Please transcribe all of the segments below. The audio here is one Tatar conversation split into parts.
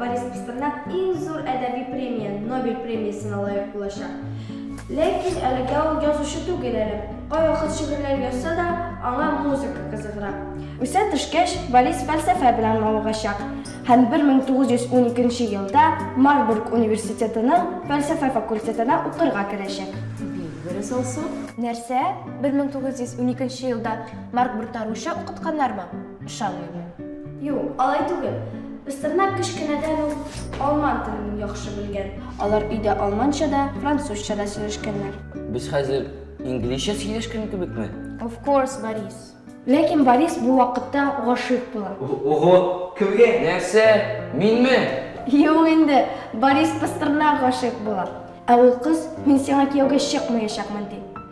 Борис Пастернак иң зур әдәби премия, Нобель премиясенә лайык булачак. Ләкин әлегә ул язучы түгел әле. Кайвакыт шигырьләр язса да, аңа музыка кызыгыра. Үсә төшкәч, Борис фәлсәфә белән мавыгачак һәм 1912 елда Марбург университетының фәлсәфә факультетына укырга керәчәк. Бик дөрес алсу. Нәрсә? 1912 елда Марк Брутта русча укытканнармы? Ышанмыйм мин. Юк, алай түгел. Пастернак кечкенәдән үк алман телен яхшы белгән. Алар өйдә алманча да, французча да сөйләшкәннәр. Без хәзер инглизчә сөйләшкән кебекме? Of course, Борис. Ләкин Борис бу вакытта гашыйк була. Ого, кемгә? Нәрсә? Минме? Юк инде, Борис Пастернак гашыйк була. Ә ул кыз, мин сиңа кияүгә чыкмаячакмын, ди.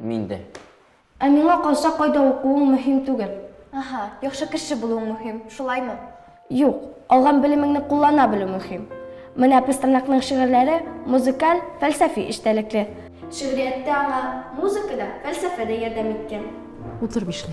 Мин дә. Ә миңа калса, кайда укуың мөһим түгел. Аһа, яхшы кеше булуың мөһим, шулаймы? Юк, алган белемеңне куллана белү мөһим. Менә Пастернакның шигырьләре музыкаль, фәлсәфи эчтәлекле. Шигърияттә аңа музыка да, фәлсәфә дә ярдәм иткән. Утыр бишле.